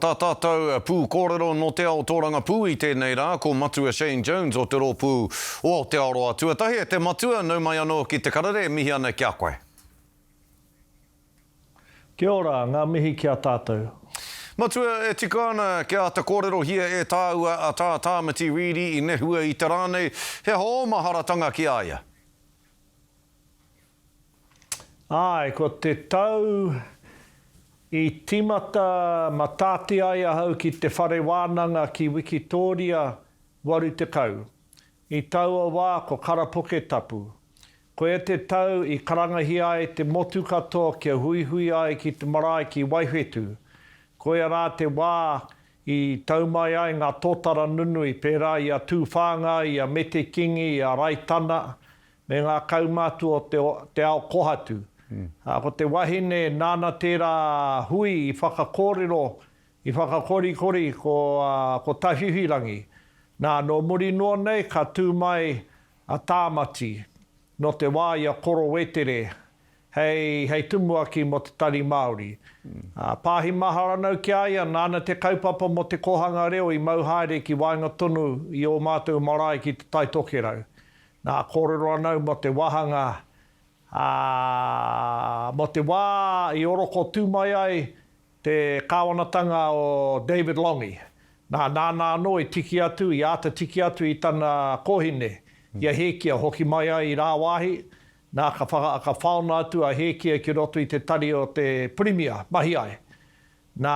Tā tātou pūkōrero nō te ao tōrangapū i tēnei rā ko Matua Shane Jones o te rōpū o Aotearoa Tuatahi e te Matua nau mai anō ki te karere e mihi ana ki a koe. Kia ora, ngā mihi ki a tātou. Matua, e tika ana kia āta kōrerohia e tāua a Tā Tāmati Reedy i nehua i te rā nei, he aha ō maharatanga ki a ia? Āe, ko te tau i tīmata mataati ai ahau ki te whare wānanga ki Wikitōria, waru tekau. I taua wā ko Karapoke Tapu. Koia te tau i karangahia ai te motu katoa kia huihui ai ki te marae ki Waiwhetū. Koia rā te wā i tau mai ai ngā tōtara nunui pērā i a Tūwhāngai, i a Mete Kingi, i a Raitana, me ngā kaumātua o te ao kohatu, ā, ko te wahine nāna tērā hui i whakakōrero, i whakakorikori ko Tawhiwhirangi. Nā, nō muri noa nei ka tū mai a Tāmati nō te wā i a Koro Wetere hei tumuaki mō te Tari Māori. Ā, pāhi maharanau ki a ia, nāna te kaupapa mō te kōhanga reo i mau haere ki waenga tonu i ō mātou marae ki Te Tai Tokerau. Nā, kōrero ana au mō te wāhanga, ā, mō te wā i orokotū mai ai te kāwanatanga o David Lange. Nā, nāna anō i tiki atu, i āta tiki atu i tana kōhine, i a Hēkia hoki mai ai i rāwāhi, nā, ka whaona atu a Hēkia ki roto i te tari o te Pirimia, mahi ai. Nā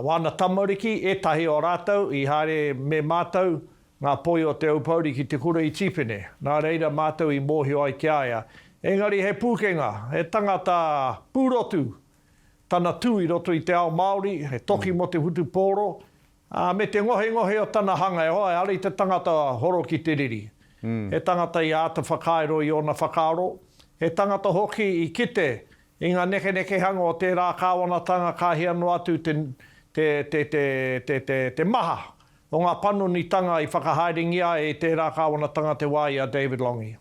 wāna tamariki, ētahi o rātou i haere me mātou, ngā poi o Te Aupōuri ki te kura i Tīpene, nā reira mātou i mōhio ai ki a ia, engari he pūkenga, he tangata pūrotu tana tū i roto i te ao Māori, he toki mō te whutupōro, Ā, me te ngohengohe o tana hanga, e hoa, ehara i te tangata horo ki te riri. He tangata i āta whakairo i ōna whakaaro, he tangata hoki i kite i ngā nekenekehanga o tērā kāwanatanga ka hia noa atu te, te, te, te, te, te, te maha o ngā panonitanga i whakahaerengia ai e tērā kāwanatanga te wā i a David Lange.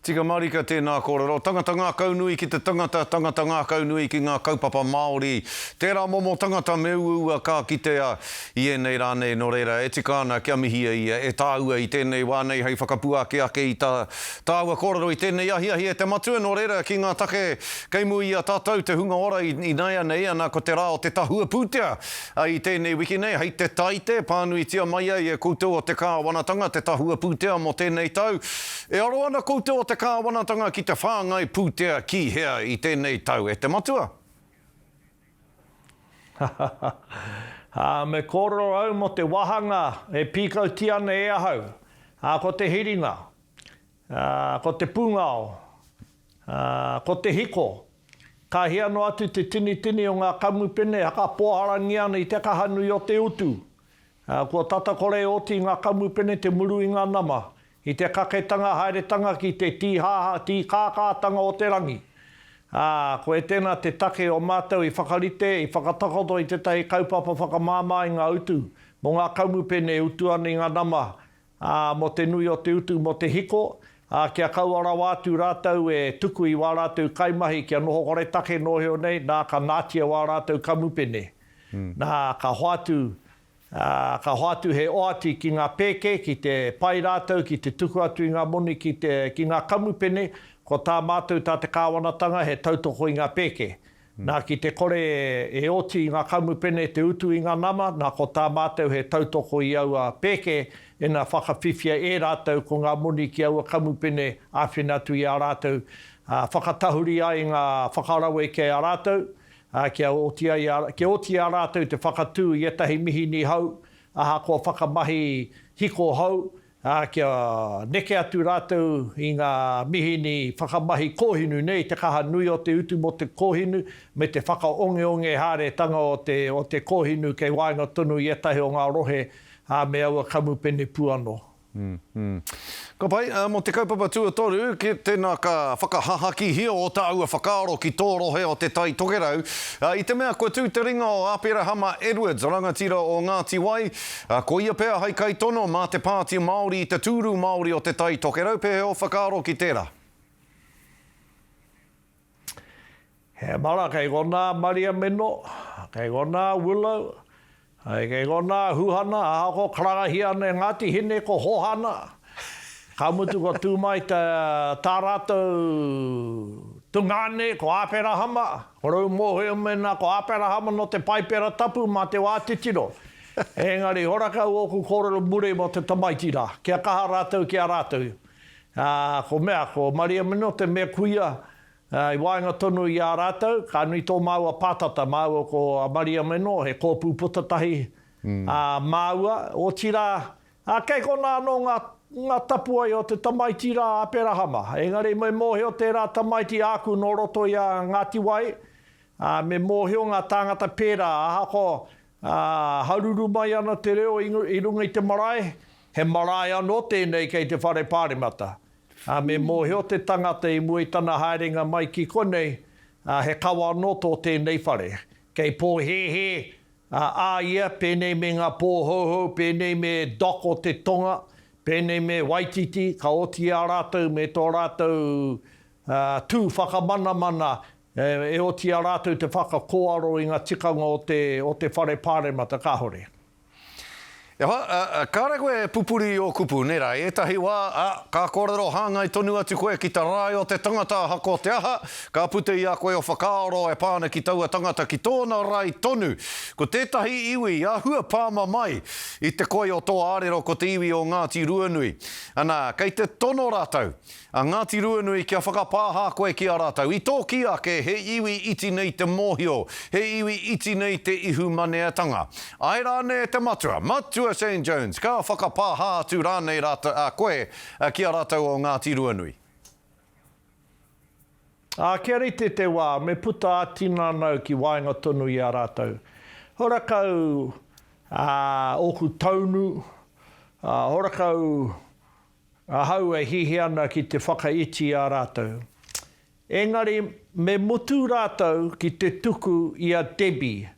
Tika marika tēnā kōrero. Tangata ngākau nui ki te tangata, tangata ngākau nui ki ngā kaupapa Māori. Tērā momo tangata me uaua ka kitea i ēnei rā nei, nō reira e tika ana kia mihia ia e tāua i tēnei wā nei hei whakapuaki ake i tā tāua kōrero i tēnei ahiahi e te Matua, nō reira ki ngā take kei mua i a tātou te hunga ora ināianei ana ko te rā o te tahua pūtea I tēnei wiki nei, hei te Taite, pānuitia mai ai e koutou o te Kāwanatanga te tahua pūtea mō tēnei tau. E aro ana koutou o te Kāwanatanga ki te whāngai pūtea ki hea i tēnei tau, e te Matua? Hahaha. Ā, me kōrero au mō te wāhanga e pīkautia ana e ahau, ā, ko te hiringa. Ā, ko te pūngao, ā, ko te hiko, ka hia noa atu te tinitini o ngā kamupene e hakapoaharangia ana i te kaha nui o te utu. Ā, kua tata kore e oti i ngā kamupene te muru i ngā nama, i te kaketanga haeretanga ki te tīhaha, tīkākātanga o te rangi. Ā, koe tēnā te take o mātou i whakarite, i whakatakoto i tētahi kaupapa whakamāmā i ngā utu mō ngā kamupene e utu ana i ngā nama, ā, mō te nui o te utu mō te hiko, ā, kia kaua rawa atu rātou e tuku i wā rātou kaimahi kia noho koretake nōheo nei, nā, ka nātia wā rātou kamupene. Nā, ka hoatu, ā, ka hoatu he oati ki ngā pēke, ki te pai rātou ki te tuku atu i ngā moni ki te, ki ngā kamupene, ko tā mātou, tā te kāwanatanga, he tautoko i ngā pēke. Nā, ki te kore e oti i ngā kamupene te utu i ngā nama, nā, ko tā mātou he tautoko i aua pēke, ina whakawhiwhia e rātou ko ngā moni ki aua kamupene āwhina atu i a rātou, ā, whakatahuri ai ngā whakarawe ki a rātou, ā, kia oti ai, kia oti i a rātou te whakatū i ētahi mihini hou, ahakoa whakamahi hiko hou, ā, kia neke atu rātou i ngā mihini whakamahi kōhinu nei te kaha nui o te utu mō te kōhinu me te whakaongeonge haeretanga o te kōhinu kei waenga tonu i ētahi o ngā rohe me aua kamupene pū anō. Ka pai, mō te kaupapa tuatoru, ki tēnā ka whakahahakihia ō tāua whakaaro ki tō rohe o Te Tai Tokerau, i te mea kua tū te ringa o Aperahama Edwards, rangatira o Ngāti Wai, Ā, ko ia pea hai kaitono mā te Pāti Māori i te tūru Māori o Te Tai Tokerau, pēhea ō whakaaro ki tērā? He mana kei konā Maria Meno, kei konā Willow, kei konā Huhana, aha ko karangahia nei Ngāti Hine ko Hohana, ka mutu kua tū mai tā rātou tungāne ko Āperahama, ko rou mōhio mēnā ko Āperahama nō te Paipera Tapu mā te wā titiro, Engari, hora kau ōku kōrero muri mō te tamaiti rā, kia kaha rātou ki a rātou. Ā, ko mea, ko Maria Minote me kuia, ā, i waenga tonu i a rātou, ka nui tō māua pātata, māua ko a Maria Mino, he kōpū puta tahi, ā, māua, otirā, ā, kei konā anō ngā, ngā tapuae o te tamaiti rā a Perahama. Engari, me mōhio tērā tamaiti āku nō roto i a Ngāti Wai, ā, me mōhio ngā tāngata pērā, ahakoa, Ā, haruru mai ana te reo i runga i te marae, he marae anō tēnei kei te Whare Pāremata. Ā, me mōhio te tangata i mua i tana haerenga mai ki konei, ā, he kawa anō tō tēnei whare. Kei pōhēhē, ā, a ia, pēnei me ngā pōhouhou, pēnei me Doc o te Tonga, pēnei me Waititi, ka oti i a rātou me tō rātou, ā, tū whakamanamana E oti a rātou te whakakōaro i nga tikanga o te, o te whare pāremata, kahore. E hoa, kāre koe e pupuri i ō kupu, nera, i ētahi wā, a, ka kōrero hāngai tonu atu koe ki te rae o te tangata ahako te aha, ka puta i a koe o whakaaro e pā ana ki taua tangata ki tōna rae tonu. Ko tētahi iwi i ahua pāma mai i te koi o tō ārero ko te iwi o Ngāti Ruanui. Ana, kei te tono rātou. A Ngāti Ruanui, kia whakapāha koe ki a rātou. I tōki ake, he iwi iti nei te mōhio, he iwi iti nei te ihumaneatanga. Ae rānei e te matua, Matua Shane Jones, ka whakapāha atu rānei rātou, a koe, ki a rātou o Ngāti Ruanui? Ā, kia rite te wā, me puta ā-tinanau ki waenga tonu i a rātou. Horakau ōku taunu, horakau. Ahau e hihi ana ki te whakaiti i a rātou. Engari, me mutu rātou ki te tuku i a Debbie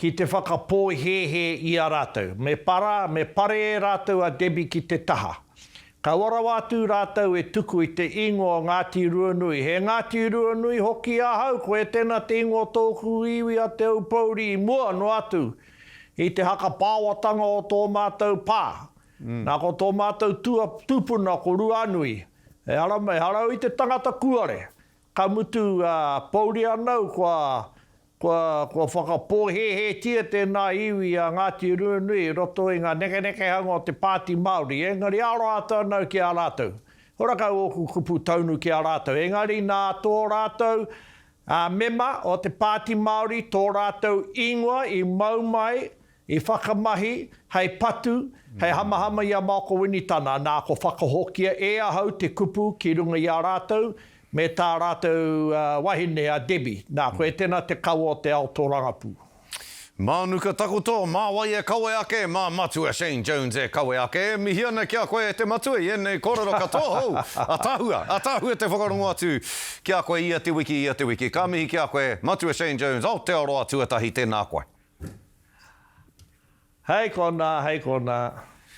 ki te whakapōhēhē i a rātou. Me para, me pare e rātou a Debbie ki te taha. Kaua rawa atu rātou e tuku i te ingoa o Ngāti Ruanui. He Ngāti Ruanui hoki ahau, koe tēnā te ingoa o tōku iwi a Te Aupōuri i mua noa atu i te haka pāoatanga o tō mātou pā. Nā, ko tō mātou tūpuna ko Ruanui, e ara mai, harau i te tangata kuare, ka mutu pouri anau kua whakapōhēhētia tēnā iwi a Ngāti Ruanui i roto i ngā nekenekehanga o te Pāti Māori, engari aro atu anau ki a rātou. Hora kau ōku kupu taunu ki a rātou, engari nā tō rātou mema o te Pāti Māori tō rātou ingoa i mau mai I whakamahi hei patu, hei hamahama i a Maoko Winitana, nā, ko whakahokia e ahau te kupu ki runga i a rātou me tā rātou wahine a Debbie, nā, koe tēnā te kawa o te ao tōrangapū. Mānuka takoto, mā wai e kawe ake, mā Matua Shane Jones e kawe ake, e mihi ana ki a koe e te Matua i ēnei kōrero katoa hou, ataahua, ataahua te whakarongo atu ki a koe ia te wiki, ia te wiki. Ka mihi ki a koe, Matua Shane Jones, Aotearoa tuatahi, tēnā koe. Hei konā, hei konā.